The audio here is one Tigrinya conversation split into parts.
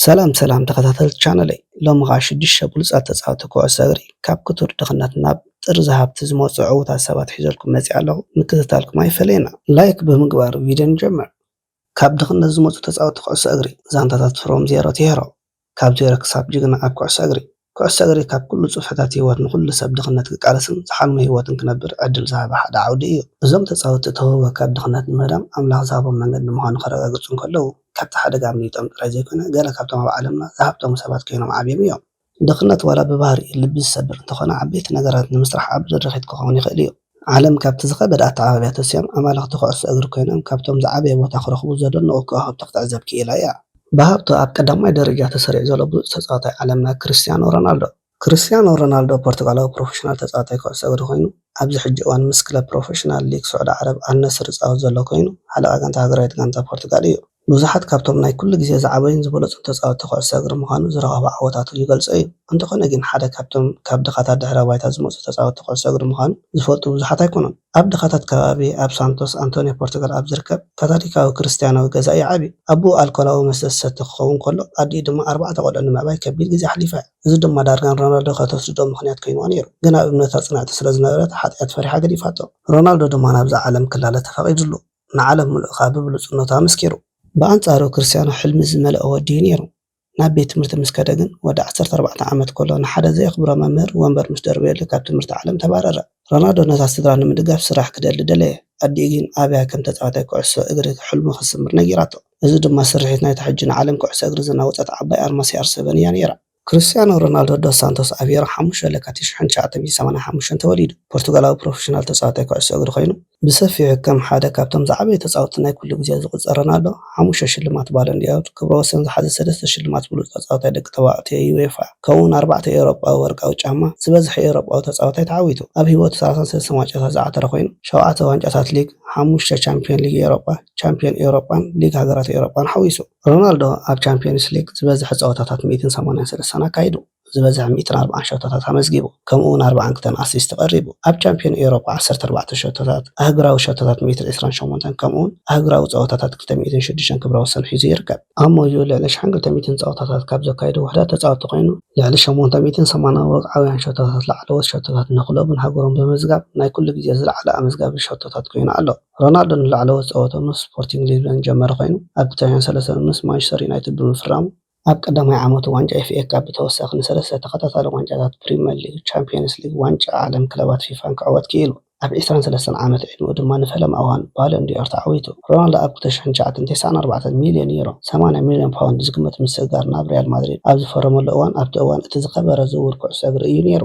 ሰላም ሰላም ተኸታተልቲ ቻነለይ ሎሚ ኸኣ ሽዱሽተ ብሉጻት ተጻወቲ ኩዕሶ እግሪ ካብ ክቱር ድኽነት ናብ ጥርዚ ሃብቲ ዝመጹ ዕዉታት ሰባት ሒዘልኩም መጺኣ ኣለኹ ምክትታልኩም ኣይፈለየና ላይክ ብምግባር ቪድዮ ንጀምር ካብ ድኽነት ዝመጹ ተጻወቲ ኩዕሶ እግሪ ዛንታታት ፍሮም ዜሮ ቲሄሮ ካብ ዜሮ ክሳብ ጅግና ኣብ ኩዕሶ እግሪ ኩዕሶ እግሪ ካብ ኩሉ ጽፍሕታት ህይወት ንኹሉ ሰብ ድኽነት ክቃለስን ዝሓልሞ ህይወትን ክነብር ዕድል ዝሃበ ሓደ ዓውዲ እዩ። እዞም ተጻወትቲ እቲ ህውበ ካብ ድኽነት ንምህዳም ኣምላኽ ዝሃቦም መንገዲ ምዃኑ ከረጋግጹ እንከለዉ ካብቲ ሓደጋ ኣምሊጦም ጥራይ ዘይኮነ ገለ ካብቶም ኣብ ዓለምና ዝሃብተሙ ሰባት ኮይኖም ዓብዮም እዮም። ድኽነት ዋላ ብባህሪኡ ልቢ ዝሰብር እንተኾነ ዓበይቲ ነገራት ንምስራሕ ዓቢ ድርኺት ክኸውን ይኽእል እዩ። ዓለም ካብቲ ዝኸበደ ኣተዓባብያ ተሲኦም ኣማለኽቲ ኩዕሶ እግሪ ኮይኖም ካብቶም ዝዓበየ ቦታ ክረኽቡ ዘደንቑ ከዋኽብቲ ክትዕዘብ ክኢላ እያ። ብሃብቱ ኣብ ቀዳማይ ደረጃ ተሰሪዑ ዘሎ ብሉጽ ተጻዋታይ ዓለምና ክርስትያኖ ሮናልዶ። ክርስትያኖ ሮናልዶ ፖርቱጋላዊ ፕሮፈሽናል ተጻዋታይ ኩዕሶ እግሪ ኮይኑ ኣብዚ ሕጂ እዋን ምስ ክለብ ፕሮፈሽናል ሊግ ስዑዲ ዓረብ ኣልነስር ዝጻወት ዘሎ ኮይኑ ሓለቓ ጋንታ ሃገራዊት ጋንታ ፖርቱጋል እዩ። ብዙሓት ካብቶም ናይ ኩሉ ግዜ ዝዓበዩን ዝበለጹን ተጻወትቲ ኩዕሶ እግሪ ምዃኑ ዝረኸቦ ዓወታቱ ይገልጾ እዩ። እንተኾነ ግን ሓደ ካብቶም ካብ ድኻታት ድሕረ ባይታ ዝመጹ ተጻወትቲ ኩዕሶ እግሪ ምዃኑ ዝፈልጡ ብዙሓት ኣይኮኑን። ኣብ ድኻታት ከባቢ ኣብ ሳንቶስ ኣንቶንዮ ፖርቱጋል ኣብ ዝርከብ ካታሊካዊ ክርስትያናዊ ገዛ እዩ ዓብዩ። ኣቡኡ ኣልኮላዊ መስተ ዝሰቲ ክኸውን ከሎ ኣዲኡ ድማ ኣርባዕተ ቆልዑ ንምዕባይ ከቢድ ግዜ ኣሕሊፋ እያ። እዚ ድማ ዳርጋ ንሮናልዶ ከተስድዶ ምኽንያት ኮይንዋ ነይሩ። ግን ኣብ እምነታ ጽንዕቲ ስለዝነበረት ሓጥያት ፈሪሓ ገዲፋቶ። ሮናልዶ ድማ ናብዛ ዓለም ክላለ ተፈቒድሉ። ንዓለም ምሉእ ከኣ ብብሉጽነቱ ኣመስኪሩ። ብኣንጻሩ ክርስትያኖ ሕልሚ ዝመልኦ ወዲ'ዩ ነይሩ። ናብ ቤት ትምህርቲ ምስ ከደ ግን፣ ወዲ ዓሰርተ ኣርባዕተ ዓመት ከሎ ንሓደ ዘየኽብሮ መምህር ወንበር ምስ ደርበየሉ ካብ ትምህርቲ ዓለም ተባረረ። ሮናልዶ ነታ ስድራ ንምድጋፍ ስራሕ ክደሊ ደለየ። ኣዲኡ ግን ኣብያ ከም ተጻዋታይ ኩዕሶ እግሪ ሕልሙ ክትስምር ነጊራቶ። እዚ ድማ ስርሒት ናይታ ሕጂ ንዓለም ኩዕሶ እግሪ ዘናወጸት ዓባይ ኣርማ ሲኣር-ሰቨን እያ ነይራ። ክርስትያኖ ሮናልዶ ዶስ ሳንቶስ ኣቬሮ፣ ሓሙሽተ ለካቲት ሽሕን ትሽዓተ ሚእትን ሰማንያን ሓሙሽተን ተወሊዱ፣ ፖርቱጋላዊ ፕሮፈሽናል ተጻዋታይ ኩዕሶ እግሪ ኮይኑ፣ ብሰፊሑ ከም ሓደ ካብቶም ዝዓበዩ ተጻወትቲ ናይ ኩሉ ግዜ ዝቑጸር ሮናልዶ፣ ሓሙሽተ ሽልማት ባሎን ዲ'ኦር፣ ክብረ ወሰን ዝሓዘ ሰለስተ ሽልማት ብሉጽ ተጻዋታይ ደቂ ተባዕትዮ ዩኤፋ፣ ከምኡ'ውን ኣርባዕተ ኤውሮጳዊ ወርቃዊ ጫማ፣ ዝበዝሐ ኤውሮጳዊ ተጻዋታይ ተዓዊቱ። ኣብ ህይወቱ ሰላሳን ሰለስተን ዋንጫታት ዝዓተረ ኮይኑ፣ ሸውዓተ ዋንጫታት ሊግ፣ ሓሙሽተ ቻምፕዮን ሊግ ኤውሮጳ፣ ቻምፕዮን ኤውሮጳን ሊግ ሃገራት ኤውሮጳን ሓዊሱ። ሮናልዶ ኣብ ቻምፕዮንስ ሊግ ዝበዝሐ ጸወታታት ሚእትን ሰማንያን ሰለስተን ኣካይዱ፣ ዝበዝሐ ሚእትን ኣርብዓን ሸቶታት ኣመዝጊቡ፣ ከምኡ'ውን ኣርብዓን ክልተን ኣሲስት ቀሪቡ። ኣብ ቻምፕዮን ኤውሮጳ ዓሰርተ ኣርባዕተ ሸቶታት፣ ኣህጉራዊ ሸቶታት ሚእትን ዕስራን ሸሞንተን ከምኡ'ውን ኣህጉራዊ ጸወታታት ክልተ ሚእትን ሽዱሽተን ክብረ ወሰን ሒዙ ይርከብ። ኣብ ሞይኡ ልዕሊ ሽሕን ክልተ ሚእትን ጸወታታት ካብ ዘካየዱ ውሑዳት ተጻወትቲ ኮይኑ፣ ልዕሊ ሸሞንተ ሚእትን ሰማንያ ወግዓውያን ሸቶታት ላዕለዎት ሸቶታት ንክለቡን ሃገሩን ብምምዝጋብ ናይ ኩሉ ግዜ ዝለዓለ ኣመዝጋቢ ሸቶታት ኮይኑ ኣሎ። ሮናልዶ ንላዕለዎት ጸወትኡ ምስ ስፖርቲንግ ሊዝበን ዝጀመረ ኮይኑ፣ ኣብ ክልቲኣውያን ሰለሰን ምስ ማንቸስተር ዩናይትድ ብምፍራሙ፣ ኣብ ቀዳማይ ዓመቱ ዋንጫ ኤፍኤ ካፕ ብተወሳኺ ንሰለስተ ተኸታታሊ ዋንጫታት ፕሪመር ሊግ፣ ቻምፕየንስ ሊግ፣ ዋንጫ ዓለም ክለባት ፊፋን ክዕወት ክኢሉ። ኣብ ዕስራን ሰለስተን ዓመት ዕድመኡ ድማ ንፈለማ እዋን ባሎን ዲ'ኦር ተዓዊቱ። ሮናልዶ ኣብ ክልተ ሽሕን ትሽዓተን ተስዓን ኣርባዕተን ሚልዮን ዩሮ፣ ሰማንያ ሚልዮን ፓውንድ፣ ዝግመት ምስግጋር ናብ ሪያል ማድሪድ ኣብ ዝፈረመሉ እዋን፣ ኣብቲ እዋን እቲ ዝኸበረ ዝውውር ኩዕሶ እግሪ እዩ ነይሩ።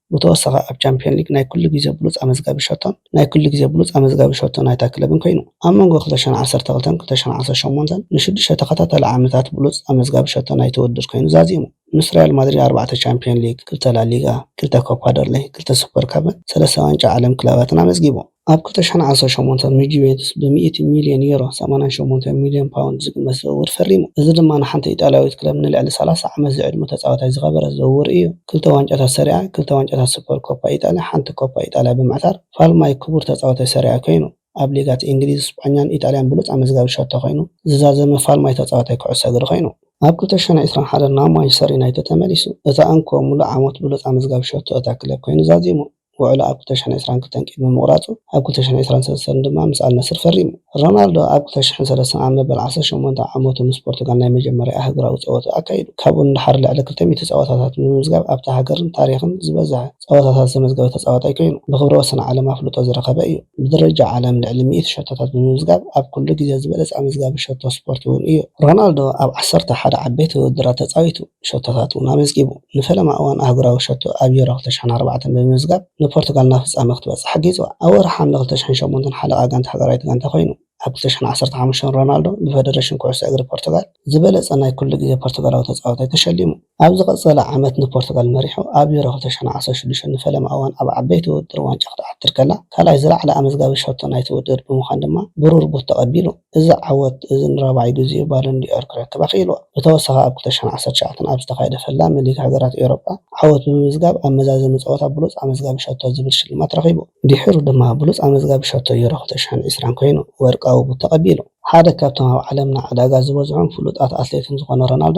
ብተወሳኺ ኣብ ቻምፕዮን ሊግ ናይ ኩሉ ግዜ ብሉጽ ኣመዝጋቢ ሸቶን ናይ ኩሉ ግዜ ብሉጽ ኣመዝጋቢ ሸቶ ናይታ ክለብን ኮይኑ። ኣብ መንጎ ክልተ ሽሕን ዓሰርተ ክልተን ክልተ ሽሕን ዓሰርተ ሸሞንተን ንሽዱሽተ ተኸታታሊ ዓመታት ብሉጽ ኣመዝጋቢ ሸቶ ናይቲ ውድድር ኮይኑ ዛዚሙ። ምስ ሪያል ማድሪድ ኣርባዕተ ቻምፕዮን ሊግ፣ ክልተ ላሊጋ፣ ክልተ ኮፓ ደርለይ፣ ክልተ ሱፐር ካፕን ሰለስተ ዋንጫ ዓለም ክለባትን ኣመዝጊቡ። ኣብ ክልተ ሽሕን ዓሰርተ ሸሞንተን ንጁቬንቱስ ብሚእቲ ሚልዮን ዩሮ፣ ሰማንያን ሸሞንተን ሚልዮን ፓውንድ፣ ዝግመት ዝውውር ፈሪሙ። እዚ ድማ ንሓንቲ ኢጣልያዊት ክለብ ንልዕሊ ሰላሳ ዓመት ዝዕድመ ተጻዋታይ ዝኸበረ ዝውውር እዩ። ክልተ ዋንጫታት ሰሪኣ፣ ክልተ ዋንጫታት ሱፐር ኮፓ ኢጣልያ፣ ሓንቲ ኮፓ ኢጣልያ ብምዕታር ፋልማይ ክቡር ተጻዋታይ ሰሪኣ ኮይኑ። ኣብ ሊጋት እንግሊዝ፣ ስጳኛን ኢጣልያን ብሉጽ ኣመዝጋቢ ሸቶ ኮይኑ ዝዛዘመ ፋልማይ ተጻዋታይ ኩዕሶ እግሪ ኮይኑ። ኣብ ክልተ ሽሕን ዕስራን ሓደን ናብ ማንቸስተር ዩናይትድ ተመሊሱ እታ እንኮ ምሉእ ዓመት ብሉጽ ኣመዝጋቢ ሸቶ እታ ክለብ ኮይኑ ዛዚሙ። ውዕሉ ኣብ ክልተ ሽሕን ዕስራን ክልተን ቅድሚ ምቑራጹ፣ ኣብ ክልተ ሽሕን ዕስራን ሰለስተን ድማ ምስ ኣል ናስር ፈሪሙ። ሮናልዶ ኣብ ክልተ ሽሕን ሰለስተን ኣብ መበል ዓሰርተ ሸሞንተ ዓመቱ ምስ ፖርቱጋል ናይ መጀመርያኣ ሃገራዊ ጸወትኡ ኣካይዱ። ካብኡ ንደሓር ልዕሊ ክልተ ሚእቲ ጸወታታት ብምምዝጋብ ኣብታ ሃገርን ታሪኽን ዝበዝሐ ጸወታታት ዘመዝገበ ተጻዋታይ ኮይኑ፣ ብክብረ ወሰን ዓለም ኣፍልጦ ዝረኸበ እዩ። ብደረጃ ዓለም ልዕሊ ሚእቲ ሸቶታት ብምምዝጋብ ኣብ ኩሉ ግዜ ዝበለጸ ኣመዝጋቢ ሸቶ ስፖርት'ውን እዩ። ሮናልዶ ኣብ ዓሰርተ ሓደ ዓበይቲ ውድድራት ተጻዊቱ። ሸቶታት እውን ኣመዝጊቡ። ንፈለማ እዋን ኣህጉራዊ ሸቶ ኣብ ዩሮ ክልተ ሸሕን ኣርባዕተን ብምምዝጋብ ንፖርቱጋል ናብ ፍጻመ ክትበጽሕ ሓጊዝዋ። ኣብ ወርሒ ሓምለ ክልተ ሸሕን ሸሞንተን ሓለቓ ጋንታ ሃገራዊት ጋንታ ኮይኑ። ኣብ ክልተ ሸሕን ዓሰርተ ሓሙሽተን ሮናልዶ ብፈደረሽን ኩዕሶ እግሪ ፖርቱጋል ዝበለጸ ናይ ኩሉ ግዜ ፖርቱጋላዊ ተጻዋታይ ተሸሊሙ። ኣብ ዝቐጸለ ዓመት ንፖርቱጋል መሪሑ ኣብ ዩሮ ክልተ ሸሕን ዓሰርተ ሽዱሽተን ንፈለማ እዋን ኣብ ዓበይቲ ውድድር ዋንጫ ክትዓትር ከላ ካልኣይ ዝለዓለ ኣመዝጋቢ ሸቶ ናይቲ ውድድር ብምዃን ድማ ብሩር ቡት ተቐቢሉ። እዚ ዓወት እዚ ንራብዓይ ግዜኡ ባሎን ዲ'ኦር ክረክብ ኣኽኢልዎ። ብተወሳኺ ኣብ ክልተ ሽሕን ዓሰርተ ትሽዓተን ኣብ ዝተኻየደ ፈላሚ ሊግ ሃገራት ኤውሮጳ ዓወት ብምምዝጋብ ኣብ መዛዘሚ ጸወታ ብሉጽ ኣመዝጋቢ ሸቶ ዝብል ሽልማት ረኺቡ። ድሒሩ ድማ ብሉጽ ኣመዝጋቢ ሸቶ ዩሮ ክልተ ሽሕን ዕስራን ኮይኑ ወርቃዊ ቡት ተቐቢሉ። ሓደ ካብቶም ኣብ ዓለምና ዕዳጋ ዝበዝሑን ፍሉጣት ኣትሌትን ዝኾነ ሮናልዶ፣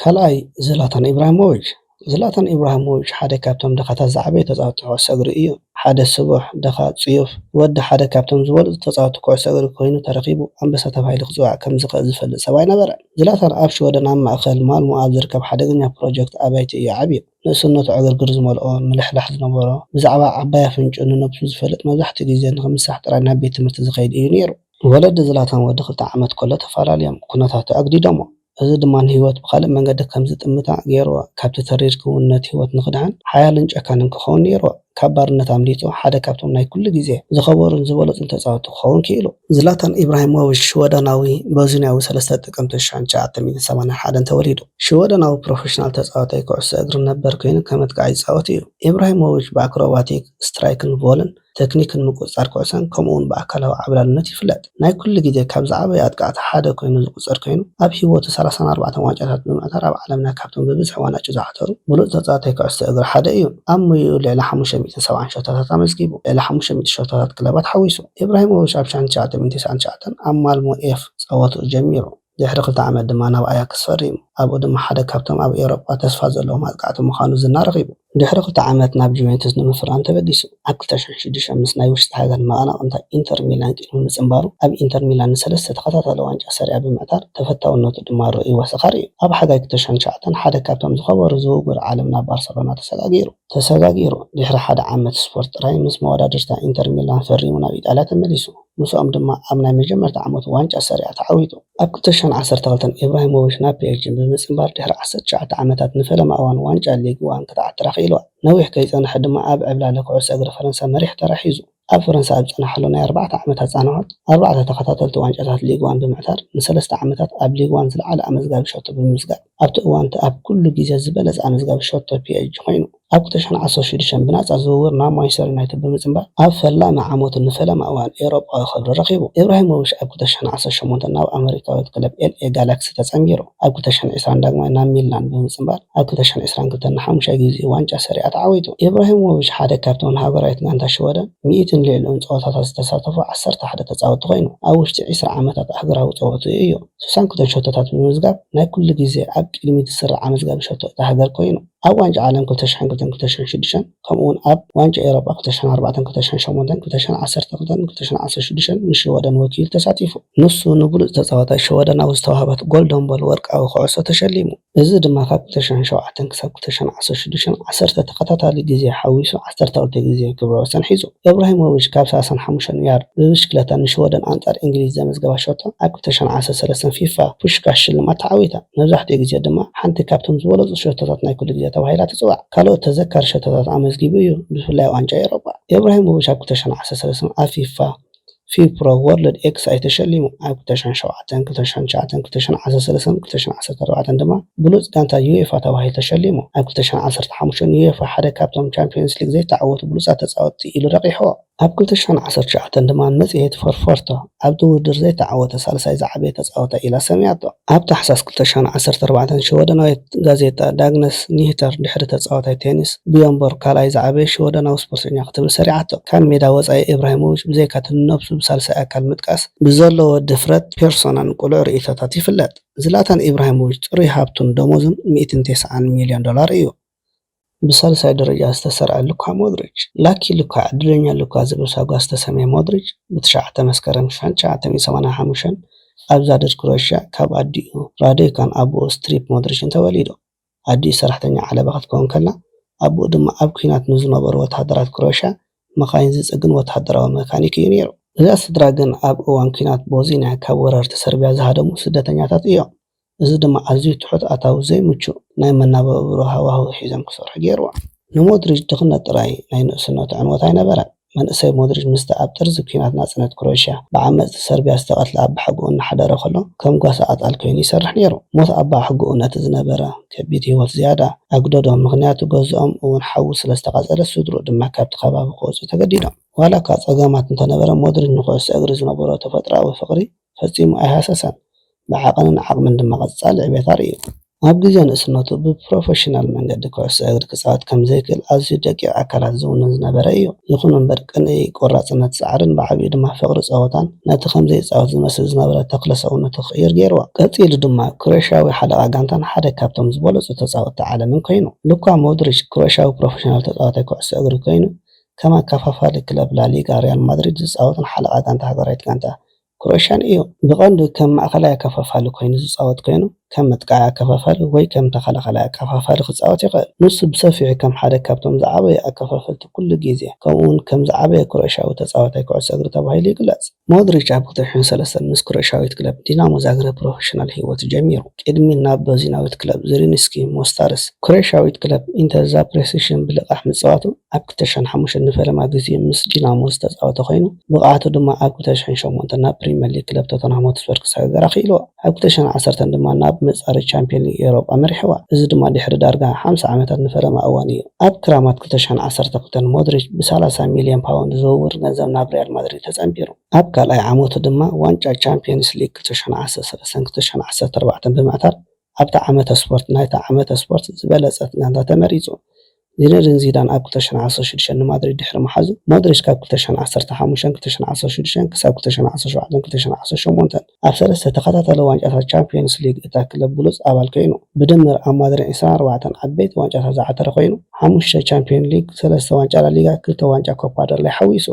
ካልኣይ ዝላታን ኢብራሂሞቭች፣ ዝላታን ኢብራሂሞቭች ሓደ ካብቶም ደኻታት ዝዓበዩ ተጻወትቲ ኩዕሶ እግሪ እዩ። ሓደ ስቡሕ፣ ደኻ፣ ጽዩፍ፣ ወዲ ሓደ ካብቶም ዝበለጹ ተጻወትቲ ኩዕሶ እግሪ ኮይኑ ተረኺቡ ኣንበሳ ተባሂሉ ክጽዋዕ ከም ዝኽእል ዝፈልጥ ሰብኣይ ነበረ። ዝላታን ኣብ ሽወደን ኣብ ማእከል ማልሞ ኣብ ዝርከብ ሓደገኛ ፕሮጀክት ኣባይቲ እዩ ዓብዩ። ንእስነቱ ዕግርግር ዝመልኦ፣ ምልሕላሕ ዝነበሮ፣ ብዛዕባ ዓባይ ኣፍንጭኡ ንነብሱ ዝፈልጥ መብዛሕትኡ ግዜ ንኽምሳሕ ጥራይ ናብ ቤት ትምህርቲ ዝኸይድ እዩ ነይሩ። ወለዲ ዝላታን ወዲ ክልተ ዓመት ከሎ ተፈላልዮም፣ ኩነታቱ ኣግዲዶሞ። እዚ ድማ ንህይወት ብኻልእ መንገዲ ከም ዝጥምታ ገይርዎ። ካብቲ ተሪር ክውንነት ህይወት ንኽድሕን፣ ሓያልን ጨካንን ክኸውን ነይርዎ። ካብ ባርነት ኣምሊጡ፣ ሓደ ካብቶም ናይ ኩሉ ግዜ ዝኸበሩን ዝበለጹን ተጻወትቲ ክኸውን ክኢሉ። ዝላታን ኢብራሂሞቪች ሽወደናዊ ቦዝንያዊ ሰለስተ ጥቅምቲ ሽሕን ትሽዓተ ሚእትን ሰማንያን ሓደን ተወሊዱ። ሽወደናዊ ፕሮፌሽናል ተጻዋታይ ኩዕሶ እግሪ ነበር ኰይኑ ከም ኣጥቃዒ ይጻወት እዩ። ኢብራሂሞቪች ብኣክሮባቲክ፣ ስትራይክን ቮልን ተክኒክን ምቁጽጻር ኩዕሶን ከምኡ'ውን ብኣካላዊ ዓብላልነት ይፍለጥ። ናይ ኩሉ ግዜ ካብ ዝዓበዩ ኣጥቃዕቲ ሓደ ኮይኑ ዝቁጸር ኮይኑ፣ ኣብ ሂወቱ ሰላሳን ኣርባዕተን ዋንጫታት ብምዕታር ኣብ ዓለምና ካብቶም ብብዝሒ ዋናጩ ዝዓተሩ ብሉጽ ተጻዋታይ ኩዕሶ እግሪ ሓደ እዩ። ኣብ ሞይኡ ልዕሊ ሓሙሽተ ሚእትን ሰብዓን ሸቶታት ኣመዝጊቡ፣ ልዕሊ ሓሙሽተ ሚእቲ ሸቶታት ክለባት ሓዊሱ። ኢብራሂሞቪች ኣብ ሸሓን ትሽዓተ ሚእትን ተስዓን ትሽዓተን ኣብ ማልሞ ኤፍ ጸወትኡ ጀሚሩ። ድሕሪ ክልተ ዓመት ድማ ናብ ኣያክስ ፈሪሙ። ኣብኡ ድማ ሓደ ካብቶም ኣብ ኤውሮጳ ተስፋ ዘለዎም ኣጥቃዕቲ ምዃኑ ዝና ረኺቡ። ድሕሪ ክልተ ዓመት ናብ ጁቬንቱስ ንምፍራም ተበጊሱ። ኣብ ክልተ ሽሕን ሽዱሽተን ምስ ናይ ውሽጢ ሃገር መቐናቕንታ ኢንተር ሚላን ቅድሚ ምጽንባሩ፣ ኣብ ኢንተር ሚላን ንሰለስተ ተኸታታሊ ዋንጫ ሰሪኣ ብምዕታር ተፈታውነቱ ድማ ርኡይ ወሰኻ ርእዩ። ኣብ ሓጋይ ክልተ ሽሕን ትሽዓተን ሓደ ካብቶም ዝኸበሩ ዝውውር ዓለም ናብ ባርሰሎና ተሰጋጊሩ። ተሰጋጊሩ፣ ድሕሪ ሓደ ዓመት ስፖርት ጥራይ ምስ መወዳድርታ ኢንተር ሚላን ፈሪሙ ናብ ኢጣልያ ተመሊሱ። ምስኦም ድማ ኣብ ናይ መጀመርታ ዓመቱ ዋንጫ ሰሪኣ ተዓዊቱ። ኣብ ክልተ ሽሕን ዓሰርተ ክልተን ኢብራሂሞቪች ናብ ፒኤስጂ ብምጽንባር ድሕሪ ዓሰርተ ትሽዓተ ዓመታት ንፈለማ እዋን ዋንጫ ሊግ ዋን ክትዓትራ ክኢልዋ። ነዊሕ ከይጸንሐ ድማ ኣብ ዕብላለ ኩዕሶ እግሪ ፈረንሳ መሪሕ ተራ ሒዙ። ኣብ ፈረንሳ ኣብ ዝጸንሓሉ ናይ ኣርባዕተ ዓመታት ጻንሖት፣ ኣርባዕተ ተኸታተልቲ ዋንጫታት ሊግ ዋን ብምዕታር፣ ንሰለስተ ዓመታት ኣብ ሊግ ዋን ዝለዓለ ኣመዝጋቢ ሸቶ ብምምዝጋብ፣ ኣብቲ እዋን'ቲ ኣብ ኩሉ ግዜ ዝበለጸ ኣመዝጋቢ ሸቶ ፒኤስጂ ኮይኑ። ኣብ ክልተ ሽሕን ዓሰርተ ሽዱሽተን ብናጻ ዝውውር ናብ ማንቸስተር ዩናይትድ ብምጽንባር ኣብ ፈላሚ ዓመቱ ንፈለማ እዋን ኤውሮጳዊ ክብሪ ረኺቡ። ኢብራሂሞቪች ኣብ ክልተ ሽሕን ዓሰርተ ሸሞንተን ናብ ኣመሪካዊት ክለብ ኤልኤ ጋላክሲ ተጸንቢሩ። ኣብ ክልተ ሽሕን ዕስራን ዳግማይ ናብ ሚላን ብምጽንባር ኣብ ክልተ ሽሕን ዕስራን ክልተን ንሓሙሻይ ግዜኡ ዋንጫ ሰሪኣ ተዓዊቱ። ኢብራሂሞቪች ሓደ ካብቶም ንሃገራዊት ጋንታ ሽወደን ሚእትን ልዕሊኡን ጸወታታት ዝተሳተፉ ዓሰርተ ሓደ ተጻወትቲ ኮይኑ፣ ኣብ ውሽጢ ዕስራ ዓመታት ኣህጉራዊ ጸወትኡ እዩ ሱሳን ክልተን ሸቶታት ብምምዝጋብ ናይ ኩሉ ግዜ ኣብ ቅድሚት ዝስራዕ ኣመዝጋቢ ሸቶ እታ ሃገር ኮይኑ። ኣብ ዋንጫ ዓለም ክልተ ሸሕን ክልተን ክልተ ሸሕን ሽዱሽተን ከምኡ'ውን ኣብ ዋንጫ ኤውሮጳ ክልተ ሸሕን ኣርባዕተን ክልተ ሸሕን ሸሞንተን ክልተ ሸሕን ዓሰርተ ክልተን ክልተ ሸሕን ዓሰርተ ሽዱሽተን ንሽወደን ወኪሉ ተሳቲፉ። ንሱ ንብሉጽ ተጻዋታይ ሸወደናዊ ዝተዋህበት ጎልደን ቦል ወርቃዊ ኩዕሶ ተሸሊሙ። እዚ ድማ ካብ ክልተ ሸሕን ሸውዓተን ክሳብ ክልተ ሸሕን ዓሰርተ ሽዱሽተን ዓሰርተ ተኸታታሊ ግዜ ሓዊሱ ዓሰርተ ክልተ ግዜ ክብረ ወሰን ሒዙ። እብራሂሞቪች ካብ ሰላሳን ሓሙሽተን ያርድ ብብሽክለታ ንሽወደን ኣንጻር እንግሊዝ ዘመዝገባ ሸቶ ኣብ ክልተ ሽሕን ዓሰርተ ሰለስተን ፊፋ ፑሽካሽ ሽልማት ተዓዊታ። መብዛሕትኡ ግዜ ድማ ሓንቲ ካብቶም ዝበለጹ ሸቶታት ናይ ኩሉ ግዜ ተባሂላ ትጽዋዕ። ካልኦት ተዘካሪ ሸቶታት ኣመዝጊቡ እዩ፣ ብፍላይ ኣብ ዋንጫ ኤውሮጳ። እብራሂሞቪች ኣብ ክልተ ሽሕን ዓሰርተ ሰለስተን ኣብ ፊፋ ፊፕሮ ወርልድ ኤክሳይት ተሸሊሙ። ኣብ ክልተ ሽሕን ሸውዓተን፣ ክልተ ሽሕን ትሽዓተን፣ ክልተ ሽሕን ዓሰርተ ሰለስተን ክልተ ሽሕን ዓሰርተ ኣርባዕተን ድማ ብሉጽ ጋንታ ዩኤፋ ተባሂሉ ተሸሊሙ። ኣብ ክልተ ሽሕን ዓሰርተ ሓሙሽተን ንዩኤፋ ሓደ ካብቶም ቻምፕዮንስ ሊግ ዘይተዓወቱ ብሉጻት ተጻወትቲ ኢሉ ረቚሕዎ። ኣብ ክልተ ሽሕን ዓሰርተ ትሽዓተን ድማ መጽሔት ፎርፎርቶ ኣብቲ ውድድር ዘይተዓወተ ሳልሳይ ዝዓበየ ተጻዋታይ ኢላ ሰምያቶ። ኣብ ታሕሳስ ክልተ ሽሕን ዓሰርተ ኣርባዕተን ሽወደናዊት ጋዜጣ ዳግነስ ኒህተር ድሕሪ ተጻዋታይ ቴኒስ ብዮን ቦርግ ካልኣይ ዝዓበየ ሽወደናዊ ስፖርተኛ ክትብል ሰሪዓቶ። ካብ ሜዳ ወጻኢ ኢብራሂሞቪች ብዘይካ'ቲ ንነብሱ ብሳልሳይ ኣካል ምጥቃስ ብዘለዎ ድፍረት፣ ፔርሶናን ቅሉዕ ርእይቶታትን ይፍለጥ። ዝላታን ኢብራሂሞቪች ጽሩይ ሃብቱን ደሞዙን ሚእትን ቴስዓን ሚልዮን ዶላር እዩ። ብሳልሳይ ደረጃ ዝተሰርዐ ሉካ ሞድሪች፣ Lucky Luka፣ ዕድለኛ ሉካ ዝብል ሳጓ ዝተሰምየ ሞድሪች፣ ብትሽዓተ መስከረም ሽሕን ትሽዓተ ሚእትን ሰማንያን ሓሙሽተን ኣብ ዛድድ ክሮኤሽያ ካብ ኣዲኡ ራዶይካን ኣቡኡ ስትሪፕ ሞድሪችን ተወሊዱ። ኣዲኡ ሰራሕተኛ ዓለባ ክትከውን ከላ፣ ኣቡኡ ድማ ኣብ ኲናት ንዝነበሩ ወተሃደራት ክሮኤሽያ መኻይን ዝጽግን ወተሃደራዊ መካኒክ እዩ ነይሩ። እዛ ስድራ ግን ኣብ እዋን ኲናት ቦዝንያ ካብ ወረርቲ ሰርብያ ዝሃደሙ ስደተኛታት እዮም። እዚ ድማ ኣዝዩ ትሑት ኣታዊ ዘይምቹእ ናይ መነባብሮ ሃዋህው ሒዞም ክሰርሑ ገይርዎም። ንሞድሪጅ ድኽነት ጥራይ ናይ ንእስነቱ ዕንወት ኣይነበረን። መንእሰይ ሞድሪጅ ምስቲ ኣብ ጥርዚ ኲናት ናጽነት ክሮኤሽያ ብዓመጽቲ ሰርብያ ዝተቐትለ ኣባሓጎኡ እናሓደረ ከሎ ከም ጓሳ ኣጣል ኰይኑ ይሰርሕ ነይሩ። ሞት ኣባሓጎኡ ነቲ ዝነበረ ከቢድ ህይወት ዝያዳ ኣጕደዶ፣ ምኽንያቱ ገዝኦም እውን ሓዊ ስለ ዝተቓጸለ ስድርኡ ድማ ካብቲ ከባቢ ክወጽኡ ተገዲዶም። ዋላ'ኳ ጸገማት እንተነበረ ሞድሪጅ ንዅዕሶ እግሪ ዝነበሮ ተፈጥሮኣዊ ፍቕሪ ፈጺሙ ኣይሃሰሰን፣ ብዓቐንን ዓቕምን ድማ ቀጻሊ ዕቤት ኣርእዩ። ኣብ ግዜ ንእስነቱ ብፕሮፈሽናል መንገዲ ኩዕሶ እግሪ ክጻወት ከም ዘይክእል ኣዝዩ ደቂቕ ኣካላት ዝውንን ዝነበረ እዩ። ይኹን እምበር ቅንኢ፣ ቆራጽነት፣ ጻዕርን ብዓቢኡ ድማ ፍቕሪ ጸወታን ነቲ ከም ዘይጻወት ዝመስል ዝነበረ ተኽለ ሰውነቱ ክቕይር ገይርዎ። ቀጺሉ ድማ ክሮኤሽያዊ ሓለቓ ጋንታን ሓደ ካብቶም ዝበለጹ ተጻወትቲ ዓለምን ኮይኑ። ሉካ ሞድሪች ክሮኤሽያዊ ፕሮፈሽናል ተጻዋታይ ኩዕሶ እግሪ ኮይኑ ከም ኣከፋፋሊ ክለብ ላሊጋ ሪያል ማድሪድ ዝጻወትን ሓለቓ ጋንታ ሃገራዊት ጋንታ ክሮኤሽያን እዩ። ብቐንዱ ከም ማእከላይ ኣከፋፋሊ ኮይኑ ዝጻወት ኮይኑ፣ ከም መጥቃዓይ ኣከፋፋሊ ወይ ከም ተኸላኻላይ ኣከፋፋሊ ክጻወት ይኽእል። ንሱ ብሰፊሑ ከም ሓደ ካብቶም ዝዓበዩ ኣከፋፈልቲ ኩሉ ግዜ፣ ከምኡ'ውን ከም ዝዓበየ ክሮኤሽያዊ ተጻዋታይ ኩዕሶ እግሪ ተባሂሉ ይግለጽ። ሞድሪች ኣብ ክልተ ሽሕን ሰለስተን ምስ ክሮኤሽያዊት ክለብ ዲናሞ ዛግረብ ፕሮፈሽናል ህይወቱ ጀሚሩ፣ ቅድሚ ናብ በዚናዊት ክለብ ዝሪንስኪ ሞስታርስ፣ ክሮኤሽያዊት ክለብ ኢንተር ዛፕሬሲሽን ብልቓሕ ምጽዋቱ፣ ኣብ ክልተ ሽሕን ሓሙሽተን ንፈለማ ግዜኡ ምስ ዲናሞ ዝተጻወተ ኮይኑ፣ ብቕዓቱ ድማ ኣብ ክልተ ሽሕን ሸሞንተን ናብ ፕሪመር ሊግ ክለብ ቶተንሃም ሆትስፐር ክሰጋገር ኣኽኢልዎ። ኣብ ክልተ ሽሕን ዓሰርተን ድማ ናብ መጻረዪ ቻምፕዮን ሊግ ኤውሮጳ መሪሕዋ፣ እዚ ድማ ድሕሪ ዳርጋ ሓምሳ ዓመታት ንፈለማ እዋን እዩ። ኣብ ክራማት ክልተ ሽሕን ዓሰርተ ክልተን ሞድሪች ብሰላሳ ሚልዮን ፓውንድ ዝውውር ገንዘብ ናብ ሪያል ማድሪድ ተጸንቢሩ። ኣብ ካልኣይ ዓመቱ ድማ ዋንጫ ቻምፕዮንስ ሊግ ክልተ ሽሕን ዓሰርተ ሰለስተን ክልተ ሽሕን ዓሰርተ ኣርባዕተን ብምዕታር ኣብቲ ዓመተ ስፖርት ናይቲ ዓመተ ስፖርት ዝበለጸት ጋንታ ተመሪጹ። ዚነዲን ዚዳን ኣብ ክልተ ሽሕን ዓሰርተ ሽዱሽተን ንማድሪድ ድሕሪ ምሓዙ፣ ሞድሪች ካብ ክልተ ሽሕን ዓሰርተ ሓሙሽተን፣ ክልተ ሽሕን ዓሰርተ ሽዱሽተን ክሳብ ክልተ ሽሕን ዓሰርተ ሸውዓተን፣ ክልተ ሽሕን ዓሰርተ ሸሞንተን ኣብ ሰለስተ ተኸታታሊ ዋንጫታት ቻምፕዮንስ ሊግ እታ ክለብ ብሉጽ ኣባል ኰይኑ። ብድምር ኣብ ማድሪድ ዕስራን ኣርባዕተን ዓበይቲ ዋንጫታት ዝዓተረ ኰይኑ፣ ሓሙሽተ ቻምፕዮን ሊግ፣ ሰለስተ ዋንጫ ላሊጋ፣ ክልተ ዋንጫ ኮፓ ደል ረይ ሓዊሱ።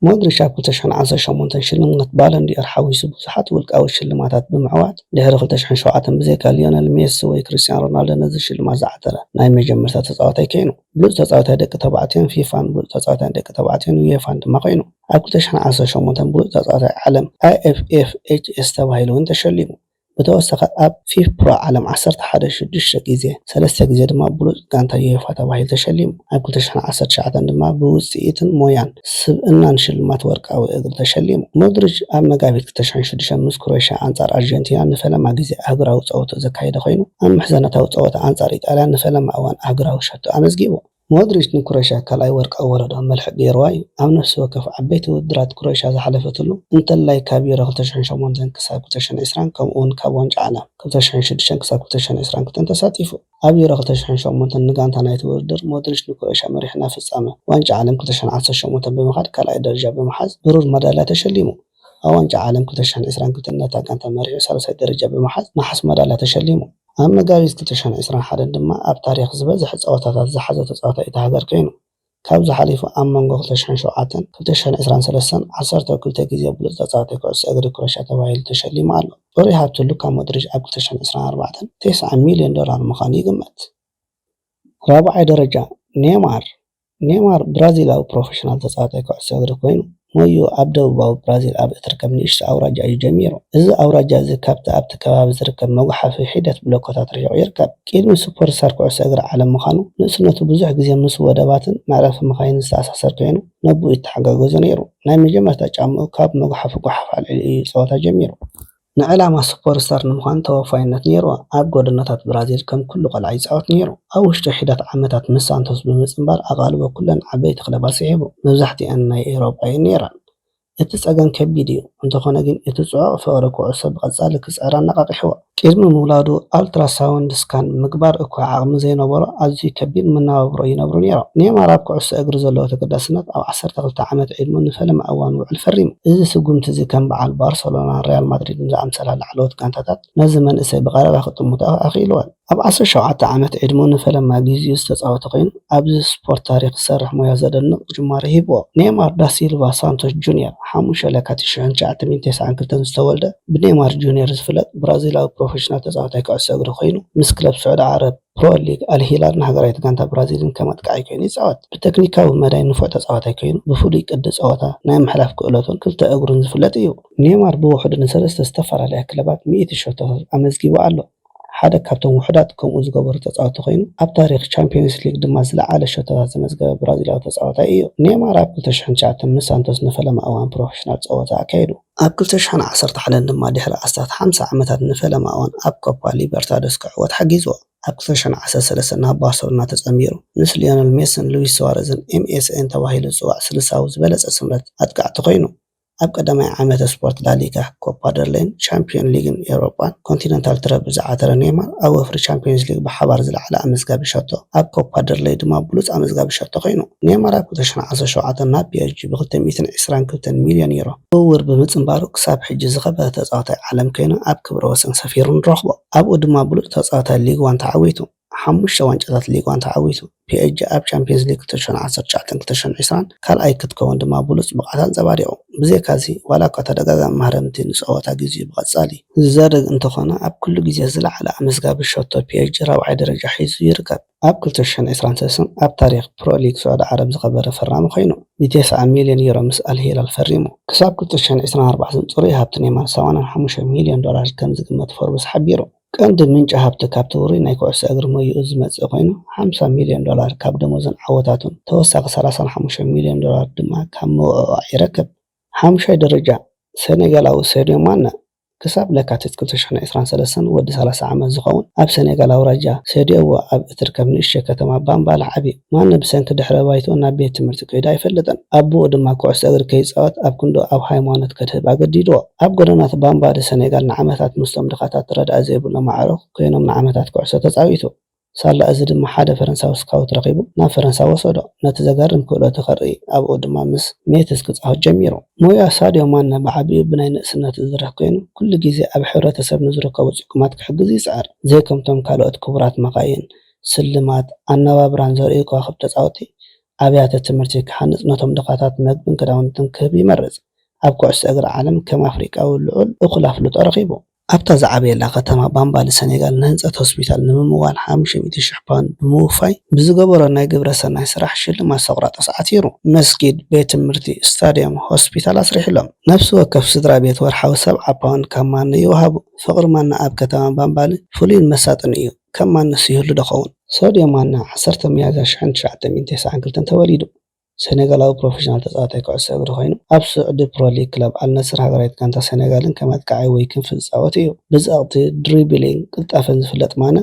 ሞድሪች ኣብ ክልተ ሽሕን ዓሰርተ ሸሞንተን ሽልማት ባለን ዲ'ኦር ሓዊሱ ብዙሓት ውልቃዊ ሽልማታት ብምዕዋት፣ ድሕሪ ክልተ ሽሕን ሸውዓተን ብዘይካ ሊዮነል ሜሲ ወይ ክርስትያን ሮናልዶ ነዚ ሽልማት ዝዓተረ ናይ መጀመርታ ተጻዋታይ ኴይኑ። ብሉጽ ተጻዋታይ ደቂ ተባዕትዮን ፊፋን ብሉጽ ተጻዋታይ ደቂ ተባዕትዮን ዩኤፋን ድማ ኮይኑ። ኣብ ክልተ ሽሕን ዓሰርተ ሸሞንተን ብሉጽ ተጻዋታይ ዓለም፣ IFFHS፣ ተባሂሉ'ውን ተሸሊሙ። ብተወሳኺ ኣብ ፊፋ ዓለም ዓሰርተ ሓደ ሽዱሽተ ግዜ፣ ሰለስተ ግዜ ድማ ብሉጽ ጋንታ ዩኤፋ ተባሂሉ ተሸሊሙ። ኣብ ክልተ ሽሕን ዓሰርተ ትሽዓተን ድማ ብውጽኢትን ሞያን ስብእናን ሽልማት ወርቃዊ እግሪ ተሸሊሙ። ሞድሪች ኣብ መጋቢት ክልተ ሽሕን ሽዱሽተን ምስ ክሮኤሽያ ኣንጻር ኣርጀንቲና ንፈለማ ግዜ ኣህጉራዊ ጸወትኡ ዘካየደ ኮይኑ፣ ኣብ ምሕዘነታዊ ጸወታ ኣንጻር ኢጣልያ ንፈለማ እዋን ኣህጉራዊ ሸቶ ኣመዝጊቡ። ሞድሪች ንክሮኤሽያ ካልኣይ ወርቃዊ ወለዶ መልሕቕ ገይርዋ እዩ፣ ኣብ ነፍሲ ወከፍ ዓበይቲ ውድድራት ክሮኤሽያ ዝሓለፈትሉ፣ እንተላይ ካብ ዩሮ ክልተ ሽሕን ሸሞንተን ክሳብ ክልተ ሽሕን ዕስራን ከምኡ'ውን ካብ ዋንጫ ዓለም ክልተ ሽሕን ሽዱሽተን ክሳብ ክልተ ሽሕን ዕስራን ክልተን ተሳቲፉ። ኣብ ዩሮ ክልተ ሽሕን ሸሞንተን ንጋንታ ናይቲ ውድድር ሞድሪች ንክሮኤሽያ መሪሑ ናብ ፍጻመ ዋንጫ ዓለም ክልተ ሽሕን ዓሰርተ ሸሞንተን ብምኻድ ካልኣይ ደረጃ ብምሓዝ ብሩር መዳልያ ተሸሊሙ። ኣብ ዋንጫ ዓለም ክልተ ሸሕን ዕስራን ክልተን ነታ ጋንታ መሪሑ ሳልሳይ ደረጃ ብምሓዝ ነሓስ መዳልያ ተሸሊሙ። ኣብ መጋቢት ክልተ ሸሕን ዕስራን ሓደን ድማ ኣብ ታሪኽ ዝበዝሐ ጸወታታት ዝሓዘ ተጻዋታይ እታ ሃገር ኰይኑ። ካብዚ ሓሊፉ ኣብ መንጎ ክልተ ሸሕን ሸውዓተን ክልተ ሸሕን ዕስራን ሰለስተን ዓሰርተው ክልተ ግዜ ብሉጽ ተጻዋታይ ኩዕሶ እግሪ ክሮኤሽያ ተባሂሉ ተሸሊሙ ኣሎ። ጽሩይ ሃብቲ ሉካ ሞድሪች ኣብ ክልተ ሸሕን ዕስራን ኣርባዕተን ቴስዓ ሚልዮን ዶላር ምዃኑ ይግመት። ራብዓይ ደረጃ፣ ኔይማር ኔይማር ብራዚላዊ ፕሮፌሽናል ተጻዋታይ ኩዕሶ እግሪ ኰይኑ፣ ሞይኡ ኣብ ደቡባዊ ብራዚል ኣብ እትርከብ ንእሽቶ ኣውራጃ እዩ ጀሚሩ። እዚ ኣውራጃ እዚ ካብቲ ኣብቲ ከባቢ ዝርከብ መጕሓፊ ሒደት ብሎኮታት ርሒቑ ይርከብ። ቂድሚ ሱፐርስታር ኩዕሶ እግሪ ዓለም ምዃኑ፣ ንእስነቱ ብዙሕ ግዜ ምስ ወደባትን መዕረፊ መካይንን ዝተኣሳሰር ኰይኑ፣ ነቦኡ ይተሓጋገዞ ነይሩ። ናይ መጀመርታ ጫምኡ ካብ መጕሓፊ ጐሓፍ ኣልዒሉ እዩ ጸወታ ጀሚሩ። ንዕላማ ሱፐርስታር ንምዃን ተወፋይነት ነይርዎ። ኣብ ጎደናታት ብራዚል ከም ኩሉ ቆልዓ ይጻወት ነይሩ። ኣብ ውሽጢ ሒደት ዓመታት ምስ ሳንቶስ ብምጽንባር ኣቓልቦ ኩለን ዓበይቲ ክለባት ስሒቡ። መብዛሕትኣን ናይ ኤውሮጳ እየን ነይረን። እቲ ጸገም ከቢድ እዩ፣ እንተኾነ ግን እቲ ጽዑቕ ፍቕሪ ኩዕሶ ብቐጻሊ ክጽዕር ኣነቓቒሕዎ። ቅድሚ ምውላዱ ኣልትራሳውንድ ስካን ንምግባር እኳ ዓቕሚ ዘይነበሮ ኣዝዩ ከቢድ መነባብሮ ይነብሩ ነይሮም። ኔይማር ኣብ ኩዕሶ እግሪ ዘለዎ ተገዳስነት ኣብ ዓሰርተ። ዓሰርተ ክልተ ዓመት ዕድመኡ ንፈለማ እዋን ውዕል ፈሪሙ። እዚ ስጉምቲ'ዚ ከም በዓል ባርሰሎናን ሪያል ማድሪድን ዝኣምሰላ ላዕለዎት ጋንታታት ነዚ መንእሰይ ብቐረባ ክጥምቶ ኣኽኢልወን። ኣብ ዓሰርተ ሸውዓተ ዓመት ዕድመኡ ንፈለማ ግዜኡ ዝተጻወተ ኮይኑ፣ ኣብዚ ስፖርት ታሪኽ ዝሰርሕ ሞያ ዘደንቕ ጅማሮ ሂብዎ። ኔይማር ዳ ሲልቫ ሳንቶስ ጁንየር፣ ሓሙሽተ ለካቲት ሽሕን ትሽዓተ ሚእትን ተስዓን ክልተን ዝተወልደ፣ ብኔይማር ጁንየር ዝፍለጥ ብራዚላዊ ፕሮፌሽናል ተጻዋታይ ኩዕሶ እግሪ ኮይኑ፣ ምስ ክለብ ስዑዲ ዓረብ፣ ፕሮ ሊግ፣ ኣል ሂላል ንሃገራዊት ጋንታ ብራዚልን ከም ኣጥቃዓይ ኮይኑ ይጻወት። ብተክኒካዊ መዳይ ንፉዕ ተጻዋታይ ኮይኑ፣ ብፍሉይ ቅዲ ጸወታ፣ ናይ ምሕላፍ ክእለቱን ክልተ እግሩን ዝፍለጥ እዩ። ኔይማር ብውሕዱ ንሰለስተ ዝተፈላለያ ክለባት ሚእቲ ሸቶታት ኣመዝጊቡ ኣሎ። ሓደ ካብቶም ውሑዳት ከምኡ ዝገበሩ ተጻወትቲ ኮይኑ፣ ኣብ ታሪኽ ቻምፕዮንስ ሊግ ድማ ዝለዓለ ሸቶታት ዘመዝገበ ብራዚላዊ ተጻዋታይ እዩ። ኔይማር ኣብ ክልተ ሽሕን ትሽዓተን ምስ ሳንቶስ ንፈለማ እዋን ፕሮፌሽናል ጸወታ ኣካይዱ። ኣብ ክልተ ሽሕን ዓሰርተ ሓደን ድማ ድሕሪ ኣስታት ሓምሳ ዓመታት ንፈለማ እዋን ኣብ ኮፓ ሊበርታዶስ ክዕወት ሓጊዝዎ። ኣብ ክልተ ሽሕን ዓሰርተ ሰለስተን ናብ ባርሰሎና ተጸንቢሩ፣ ምስ ሊዮነል ሜስን ሉዊስ ሱዋረዝን ኤምኤስኤን ተባሂሉ ዝጽዋዕ ስልሳዊ ዝበለጸ ስምረት ኣጥቃዕቲ ኮይኑ። ኣብ ቀዳማይ ዓመተ ስፖርት ላሊጋ፣ ኮፓ ደርሌይን ሻምፕዮን ሊግን ኤውሮጳን ኮንቲነንታል ትረብል ዝዓተረ ኔይማር፣ ኣብ ወፍሪ ቻምፕዮንስ ሊግ ብሓባር ዝለዓለ ኣመዝጋቢ ሸቶ፣ ኣብ ኮፓ ደል ረይ ድማ ብሉጽ ኣመዝጋቢ ሸቶ ኰይኑ፣ ኔይማር ኣብ ክልተ ሽሕን ዓሰርተ ሸውዓተን ናብ ፒኤስጂ ብክልተ ሚእትን ዕስራን ክልተን ሚልዮን ዩሮ ዝውውር ብምጽንባሩ ክሳብ ሕጂ ዝኸበረ ተጻዋታይ ዓለም ኰይኑ ኣብ ክብረ ወሰን ሰፊሩ ንረኽቦ። ኣብኡ ድማ ብሉጽ ተጻዋታይ ሊግ ዋን ተዓዊቱ፣ ሓሙሽተ ዋንጫታት ሊግ ዋን ተዓዊቱ፣ ፒኤስጂ ኣብ ቻምፕዮንስ ሊግ ክልተ ሽሕን ዓሰርተ ትሽዓተን ክልተ ሽሕን ዕስራን ካልኣይ ክትከውን ድማ ብሉጽ ብቕዓት ኣንጸባሪቑ። ብዘይካ'ዚ፣ ዋላ'ኳ ተደጋጋሚ ማህረምቲ ንጸወታ ግዜኡ ብቐጻሊ። ዝዘርግ እንተኾነ ኣብ ኩሉ ግዜ ዝለዓለ ኣመዝጋቢ ሸቶ ፒኤችጂ ራብዓይ ደረጃ ሒዙ ይርከብ። ኣብ ክልተ ሽሕን ዕስራን ሰስን ኣብ ታሪኽ ፕሮ ሊግ ስዑዲ ዓረብ ዝኸበረ ፈራሚ ኮይኑ ንቴስዓ ሚልዮን ዩሮ ምስ ኣል ሂላል ፈሪሙ። ክሳብ ክልተ ሽሕን ዕስራን ኣርባዕተን ጽሩይ ሃብቲ ኔይማር ሰማንያን ሓሙሽተን ሚልዮን ዶላር ከም ዝግመት ፎርብስ ሓቢሩ። ቀንዲ ምንጪ ሃብቲ ካብቲ ውሩይ ናይ ኩዕሶ እግሪ ሞይኡ ዝመጽእ ኮይኑ ሓምሳ ሚልዮን ዶላር ካብ ደሞዙን ዓወታቱን ተወሳኺ ሰላሳን ሓሙሽተን ሚልዮን ዶላር ድማ ካብ ምውዕዋዕ ይረክብ። ሓሙሻይ ደረጃ ሰኔጋላዊ ሰድዮ ማነ ክሳብ ለካቲት ክልተ ሽሕን ዕስራን ሰለስተን ወዲ ሰላሳ ዓመት ዝኸውን ኣብ ሰኔጋል ኣውራጃ ሰድየዎ ኣብ እትርከብ ንእሽተይ ከተማ ባምባላ ዓብዩ። ማነ ብሰንኪ ድሕረ ባይትኡ ናብ ቤት ትምህርቲ ከይዱ ኣይፈልጥን። ኣቡኡ ድማ ኩዕሶ እግሪ ከይጻወት ኣብ ክንድኡ ኣብ ሃይማኖት ከድህብ ኣገዲድዎ። ኣብ ጎደናት ባምባዲ ሰኔጋል ንዓመታት ምስቶም ድኻታት ረድኣት ዘይብሎም ኣዕሩኽ ኮይኖም ንዓመታት ኩዕሶ ተጻዊቱ። ሳላ እዚ ድማ ሓደ ፈረንሳዊ ስካውት ረኺቡ ናብ ፈረንሳ ወሰዶ፣ ነቲ ዘገርም ክእለቱ ከርኢ፣ ኣብኡ ድማ ምስ ሜትዝ ክጻወት ጀሚሩ። ሞያ ሳድዮ ማነ ብዓቢኡ ብናይ ንእስነት ዝዝርሕ ኰይኑ፣ ኵሉ ግዜ ኣብ ሕብረተሰብ ንዝርከቡ ጽጉማት ክሕግዝ ይጽዕር። ዘይከምቶም ካልኦት ክቡራት መካይን፣ ስልማት፣ ኣነባብራን ዘርእዩ ከዋኽብቲ ተጻወትቲ፣ ኣብያተ ትምህርቲ ክሃንጽ፣ ነቶም ድኻታት መግብን ክዳውንትን ክህብ ይመርጽ። ኣብ ኵዕሶ እግሪ ዓለም ከም ኣፍሪቃዊ ልዑል እኹል ኣፍልጦ ረኺቡ። ኣብታ ዝዓበየላ ከተማ ባምባሊ ሰኔጋል ንህንፀት ሆስፒታል ንምምዋል ሓሙሽተ ሚእቲ ሽሕ ፓውንድ ብምውፋይ ብዝገበሮ ናይ ግብረ ሰናይ ስራሕ ሽልማት ሶቅራጦስ ዓቲሩ። መስጊድ፣ ቤት ትምህርቲ፣ ስታድየም፣ ሆስፒታል ኣስሪሕሎም። ነፍሲ ወከፍ ስድራ ቤት ወርሓዊ ሰብዓ ፓውንድ ካብ ማኖ ይውሃቡ። ፍቕሪ ማና ኣብ ከተማ ባምባሊ ፍሉይን መሳጥን እዩ። ከም ማኖስ ይህሉ ዶ ኸውን? ሶድዮ ማና ዓሰርተ ሚያዝያ ሽሕን ትሽዓተ ሚእትን ተስዓን ክልተን ተወሊዱ። ሰኔጋላዊ ፕሮፌሽናል ተጻዋታይ ኩዕሶ እግሪ ኮይኑ፣ ኣብ ስዑዲ ፕሮ ሊግ ክለብ ኣል ነስር ሃገራዊት ጋንታ ሰኔጋልን ከም ኣጥቃዓይ ወይ ክንፊ ዝጻወት እዩ። ብጸቕጢ፣ ድሪብሊንግ፣ ቅልጣፈን ዝፍለጥ ማነ፣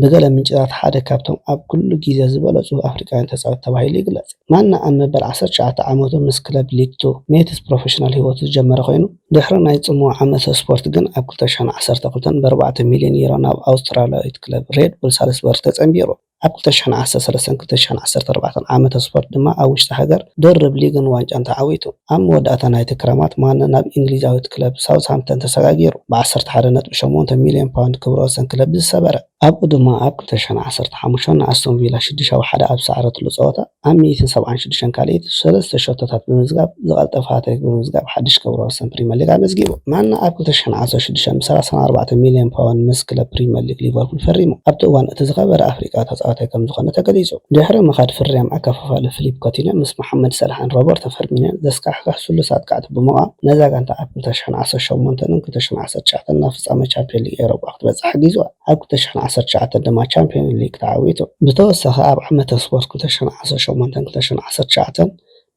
ብገለ ምንጭታት ሓደ ካብቶም ኣብ ኩሉ ግዜ ዝበለጹ ኣፍሪቃውያን ተጻወቲ ተባሂሉ ይግለጽ። ማነ ኣብ መበል ዓሰርተ ትሽዓተ ዓመቱ ምስ ክለብ ሊግ ቱ ሜትስ ፕሮፌሽናል ህይወቱ ዝጀመረ ኮይኑ፣ ድሕሪ ናይ ጽምዋ ዓመተ ስፖርት ግን ኣብ ክልተ ሽሕን ዓሰርተ ክልተን ብኣርባዕተ ሚልዮን ዩሮ ናብ ኣውስትራልያዊት ክለብ ሬድ ቡል ሳልስበሪ ተጸንቢሩ። ኣብ ክልተ ሽሕን ዓሰርተ ሰለስተን ክልተ ሽሕን ዓሰርተ ኣርባዕተን ዓመተ ስፖርት ድማ ኣብ ውሽጢ ሃገር ድርብ ሊግን ዋንጫን ተዓዊቱ። ኣብ መወዳእታ ናይቲ ክረማት ማነ ናብ እንግሊዛዊት ክለብ ሳውዝሃምፕተን ተሰጋጊሩ ብዓሰርተ ሓደ ነጥቢ ሸሞንተ ሚልዮን ፓውንድ ክብረ ወሰን ክለብ ዝሰበረ። ኣብኡ ድማ ኣብ ክልተ ሽሕን ዓሰርተ ሓሙሽተን ንኣስቶን ቪላ ሽዱሽተ ብ ሓደ ኣብ ዝሰዓረትሉ ጸወታ፣ ኣብ ሚኢትን ሰብዓን ሽዱሽተን ካልኢት ሰለስተ ሸቶታት ብምምዝጋብ ዝቐልጠፈ ሃትሪክ ብምምዝጋብ ሓድሽ ክብረ ወሰን ፕሪመር ሊግ ኣመዝጊቡ። ማነ ኣብ ክልተ ሽሕን ዓሰርተ ሽዱሽተን ብሰላሳን ኣርባዕተን ሚልዮን ፓውንድ ምስ ክለብ ፕሪመር ሊግ ሊቨርፑል ፈሪሙ ኣብቲ እዋን እቲ ዝኸበረ ኣፍሪቃዊ ተጻዋታይ ከምዝኾነ ተገሊጹ። ድሕሪ ምኻድ ፍርያም ኣከፋፋሊ ፍሊፕ ኮቲንዮ ምስ መሓመድ ሰላሕን ሮበርቶ ፈርሚንዮን ዘስካሕክሕ ስሉስ ኣጥቃዕቲ ብምቛም ነዛ ጋንታ ኣብ ክልተ ሽሕን ዓሰርተ ሸሞንተንን ክልተ ሽሕን ዓሰርተ ትሽዓተን ናብ ፍጻመ ቻምፕዮን ሊግ ኤውሮጳ ክትበጽሕ ሓጊዙዋ። ኣብ ክልተ ሽሕን ዓሰርተ ትሽዓተን ድማ ቻምፕዮን ሊግ ተዓዊቱ። ብተወሳኺ ኣብ ዓመተ ስፖርት ክልተ ሽሕን ዓሰርተ ሸሞንተን ክልተ ሽሕን ዓሰርተ ትሽዓተን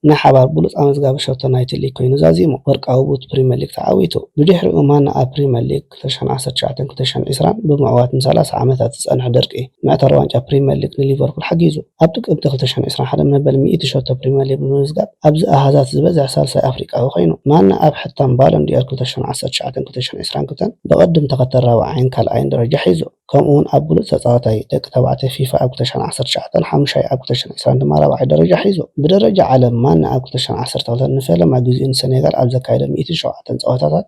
ናይ ሓባር ብሉጽ ኣመዝጋቢ ሸቶ ናይቲ ሊግ ኮይኑ ዛዚሙ፣ ወርቃዊ ቡት ፕሪመር ሊግ ተዓዊቱ። ብድሕሪኡ ማና ኣብ ፕሪመር ሊግ ክልተ ሽሕን ዓሰርተ ትሽዓተን ክልተ ሽሕን ዕስራን ብምዕዋት ንሰላሳ ዓመታት ዝጸንሐ ድርቂ መእተሪ ዋንጫ ፕሪመር ሊግ ንሊቨርፑል ሓጊዙ። ኣብ ጥቅምቲ ክልተ ሽሕን ዕስራን ሓደ መበል ሚእቲ ሸቶ ፕሪመር ሊግ ብምምዝጋብ ኣብዚ ኣሃዛት ዝበዝሐ ሳልሳይ ኣፍሪቃዊ ኮይኑ። ማነ ኣብ ሕታም ባሎን ዲ'ኦር ክልተ ሽሕን ዓሰርተ ትሽዓተን ክልተ ሽሕን ዕስራን ክልተን ብቕድም ተኸተል ራብዓይን ካልኣይን ደረጃ ሒዙ። ከምኡ'ውን ኣብ ብሉጽ ተጻዋታይ ደቂ ተባዕትዮ ፊፋ ኣብ ክልተ ሽሕን ዓሰርተ ትሽዓተን ሓሙሻይ ኣብ ክልተ ሽሕን ዕስራን ድማ ራብዓይ ደረጃ ሒዙ። ብደረጃ ዓለም ማነ ኣብ ክልተ ሽሕን ዓሰርተ ክልተን ንፈለማ ግዜኡ ንሰኔጋል ኣብ ዘካየዶ ሚእትን ሸውዓተን ጸወታታት፣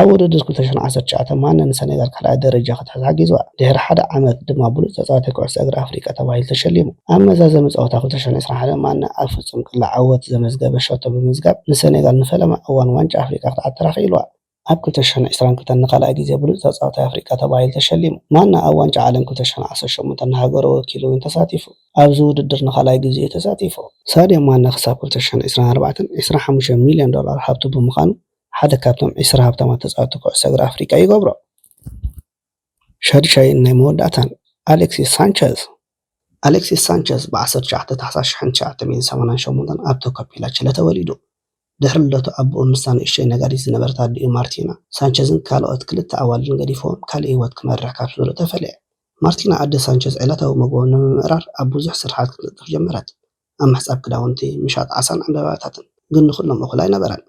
ኣብ ውድድር ክልተ ሸሕን ዓሰርተ ትሽዓተን ማነ ንሰኔጋል ካልኣይ ደረጃ ክትሕዝ ሓጊዝዋ። ድሕሪ ሓደ ዓመት ድማ ብሉጽ ተጻዋታይ ኩዕሶ እግሪ ኣፍሪቃ ተባሂሉ ተሸሊሙ። ኣብ መዛዘሚ ጸወታ ክልተ ሸሕን ዕስራን ሓደን ማነ ኣብ ፍጹም ቅላዕ ዓወት ዘመዝገበ ሸቶ ብምምዝጋብ ንሰኔጋል ንፈለማ እዋን ዋንጫ ኣፍሪቃ ክትዓትራ ክኢልዋ። ኣብ ክልተ ሸሕን ዕስራን ክልተን ንኻልኣይ ግዜ ብሉጽ ተጻዋታይ ኣፍሪቃ ተባሂሉ ተሸሊሙ። ማነ ኣብ ዋንጫ ዓለም ክልተ ሸሕን ዓሰርተ ሸሞንተን ንሃገሩ ወኪሉ እውን ተሳቲፉ። ኣብዚ ውድድር ንኻልኣይ ግዜ'ዩ ተሳቲፉ። ሳድዮ ማነ ክሳብ ክልተ ሸሕን ዕስራን ኣርባዕተን ዕስራን ሓሙሽተን ሚልዮን ዶላር ሃብቱ ብምዃኑ ሓደ ካብቶም ዕስራ ሃብታማት ተጻወትቲ ኩዕሶ እግሪ ኣፍሪቃ ይገብሮ። ሻድሻይን ናይ መወዳእታን ኣሌክሲስ ሳንቸዝ። ኣሌክሲስ ሳንቸዝ ብ ዓሰርተ ትሽዓተ ታሕሳስ ሽሕን ትሽዓተ ሚእትን ሰማንያን ሸሞንተን ኣብ ቶካፒላ፣ ቺለ ተወሊዱ። ድሕሪ ልደቱ ኣቦኡ ምስታ ንእሽቶይ ነጋዲት ዝነበረት ኣዲኡ ማርቲና፣ ሳንቸዝን ካልኦት ክልተ ኣዋልድን ገዲፍዎም ካልእ ህይወት ክመርሕ ካብ ስድርኡ ተፈልየ። ማርቲና ኣደ ሳንቸዝ ዕለታዊ መግቦም ንምምእራር ኣብ ብዙሕ ስርሓት ክትንጥፍ ጀመረት። ኣብ ምሕጻብ ክዳውንቲ፣ ምሻጥ ዓሳን ዕምባባታትን። ግን ንኹሎም እኹል ኣይነበረን።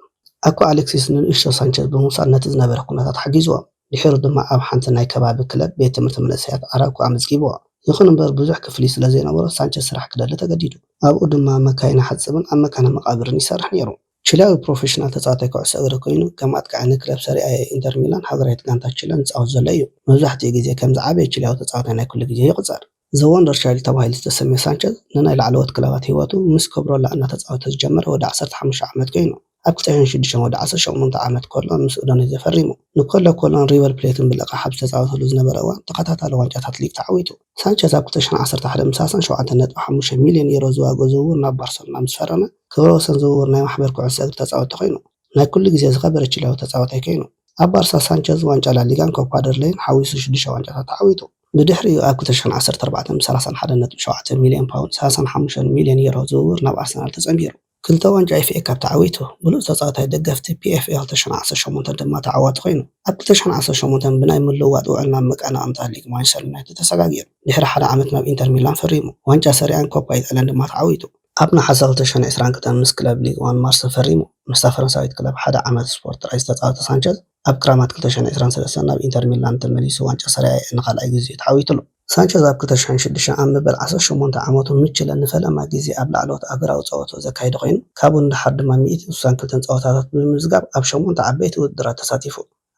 ኣኮ ኣሌክሲስ ንንእሽቶ ሳንቸዝ ብምውሳድ ነቲ ዝነበረ ኩነታት ሓጊዝዎም። ድሒሩ ድማ ኣብ ሓንቲ ናይ ከባቢ ክለብ ቤት ትምህርቲ መንእሰያት ኣራውኮ ኣመዝጊብዎ። ይኹን እምበር ብዙሕ ክፍሊት ስለ ዘይነበሮ ሳንቸዝ ስራሕ ክደሊ ተገዲዱ። ኣብኡ ድማ መካይን ይሓጽብን ኣብ መካነ መቓብርን ይሰርሕ ነይሩ። ቺሊያዊ ፕሮፌሽናል ተጻዋታይ ኩዕሶ እግሪ ኰይኑ፣ ከም ኣጥቃዒ ንክለብ ሰሪኣ ኤ ኢንተር ሚላን፣ ሃገራዊት ጋንታ ቺለ፣ ዝጻወት ዘሎ እዩ። መብዛሕትኡ ግዜ ከም ዝዓበየ ቺሊያዊ ተጻዋታይ ናይ ኵሉ ግዜ ይቝጸር። ዘ ወንደር ቻይልድ ተባሂሉ ዝተሰምየ ሳንቸዝ፣ ንናይ ላዕለዎት ክለባት ህይወቱ ምስ ኮብሮላ እናተጻወተ ዝጀመረ ወዲ ዓሰርተ ሓሙሽተ ዓመት ኰይኑ፣ ኣብ ክጸዮን ሽዱሽተን ወዲ ዓሰርተ ሸሞንተ ዓመት ኮሎን ምስ ኡዶኔዘ ፈሪሙ። ንኮሎ ኮሎን ሪቨር ፕሌትን ብልቓሕ ኣብ ዝተጻወተሉ ዝነበረ እዋን ተኸታታሊ ዋንጫታት ሊግ ተዓዊቱ። ሳንቸዝ ኣብ ክልተ ሽሕን ዓሰርተ ሓደን ምስ ኣርሰናል ሸውዓተ ነጥቢ ሓሙሽተ ሚልዮን ዩሮ ዝዋግኦ ዝውውር ናብ ባርሰሎና ምስ ፈረመ፣ ክብረ ወሰን ዝውውር ናይ ማሕበር ኩዕሶ እግሪ ተጻወትቲ ኰይኑ። ናይ ኩሉ ግዜ ዝኸበረ ቺሊያዊ ተጻዋታይ ኰይኑ። ኣብ ባርሳ፣ ሳንቸዝ ዋንጫ ላሊጋን ኮፓ ደል ረይን ሓዊሱ ሽዱሽተ ዋንጫታት ተዓዊቱ። ብድሕሪኡ ኣብ ክልተ ሸሕን ዓሰርተ ኣርባዕተን ብሰላሳን ሓደን ነጥቢ ሸውዓተ ሚልዮን ፓውንድ፣ ሰላሳን ሓሙሽተን ሚልዮን ዩሮ፣ ዝውውር ናብ ኣርሰናል ተጸንቢሩ። ክልተ ዋንጫ ኤፍኤ ካፕ ተዓዊቱ፣ ብሉጽ ተጻዋታይ ደገፍቲ ፒኤፍኤ ክልተ ሸሕን ዓሰርተ ሸሞንተን ድማ ተዓዋቲ ኮይኑ። ኣብ ክልተ ሸሕን ዓሰርተ ሸሞንተን ብናይ ምልውዋጥ ውዕል ናብ መቀናቕንታ ሊግ ማንቸስተር ዩናይትድ ተሰጋጊሩ። ድሕሪ ሓደ ዓመት ናብ ኢንተር ሚላን ፈሪሙ። ዋንጫ ሰሪኣን ኮፓ ኢጣልያን ድማ ተዓዊቱ። ኣብ ነሓሰ ክልተ ሸሕን ዕስራን ክልተን ምስ ክለብ ሊግ ዋን ማርሰ ፈሪሙ። ምስታ ፈረንሳዊት ክለብ ሓደ ዓመት ስፖርት ጥራይ ዝተጻወተ ሳንቸዝ፣ ኣብ ክራማት ክልተ ሸሕን ዕስራን ሰለስተን ናብ ኢንተር ሚላን ተመሊሱ ዋንጫ ሰሪኣ ኤ ንኻልኣይ ግዜኡ ተዓዊቱ'ሎ። ሳንቸዝ ኣብ ክልተ ሸሕን ሽዱሽተን ኣብ መበል ዓሰርተ ሸሞንተ ዓመቱ ንቺለ ንፈለማ ግዜ ኣብ ላዕለዎት ኣህጉራዊ ጸወትኡ ዘካየደ ኮይኑ፣ ካብኡ ንደሓር ድማ ሚእትን ስሳን ክልተን ጸወታታት ብምምዝጋብ ኣብ ሸሞንተ ዓበይቲ ውድድራት ተሳቲፉ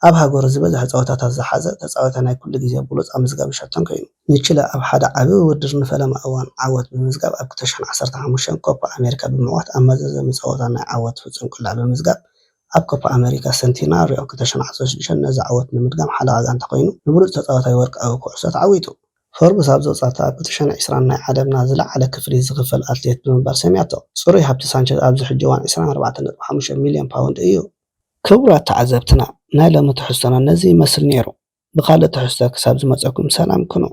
ኣብ ሃገሩ ዝበዝሐ ጸወታታት ዝሓዘ ተጻዋታይ ናይ ኩሉ ግዜ ብሉጽ ኣመዝጋቢ ሸቶን ኮይኑ። ንቺለ ኣብ ሓደ ዓቢ ውድድር ንፈለማ እዋን ዓወት ብምምዝጋብ ኣብ ክልተ ሸሕን ዓሰርተ ሓሙሽተን ኮፓ ኣሜሪካ ብምዕዋት ኣብ መዛዘሚ ጸወታ ናይ ዓወት ፍጹም ቅላዕ ብምምዝጋብ ኣብ ኮፓ ኣመሪካ ሰንቲናርዮ ክልተ ሸሕን ዓሰርተ ሽዱሽተን ነዚ ዓወት ንምድጋም ሓለቓ ጋንታ ኮይኑ ንብሉጽ ተጻዋታይ ወርቃዊ ኩዕሶ ተዓዊቱ። ፎርብስ ኣብ ዘውጽኣታ ኣብ ክልተ ሸሕን ዕስራን ናይ ዓለምና ዝለዓለ ክፍሊት ዝኽፈል ኣትሌት ብምባል ሰምያቶ። ጽሩይ ሃብቲ ሳንቸዝ ኣብዚ ሕጂ እዋን ዕስራን ኣርባዕተን ነጥቢ ሓሙሽተ ሚልዮን ፓውንድ እዩ። ክቡራት ተዓዘብትና ናይ ሎሚ ትሕዝቶና ነዚ ይመስል ኔሩ። ብኻልእ ትሕዝቶ ክሳብ ዝመጸኩም ሰላም ኩኑ።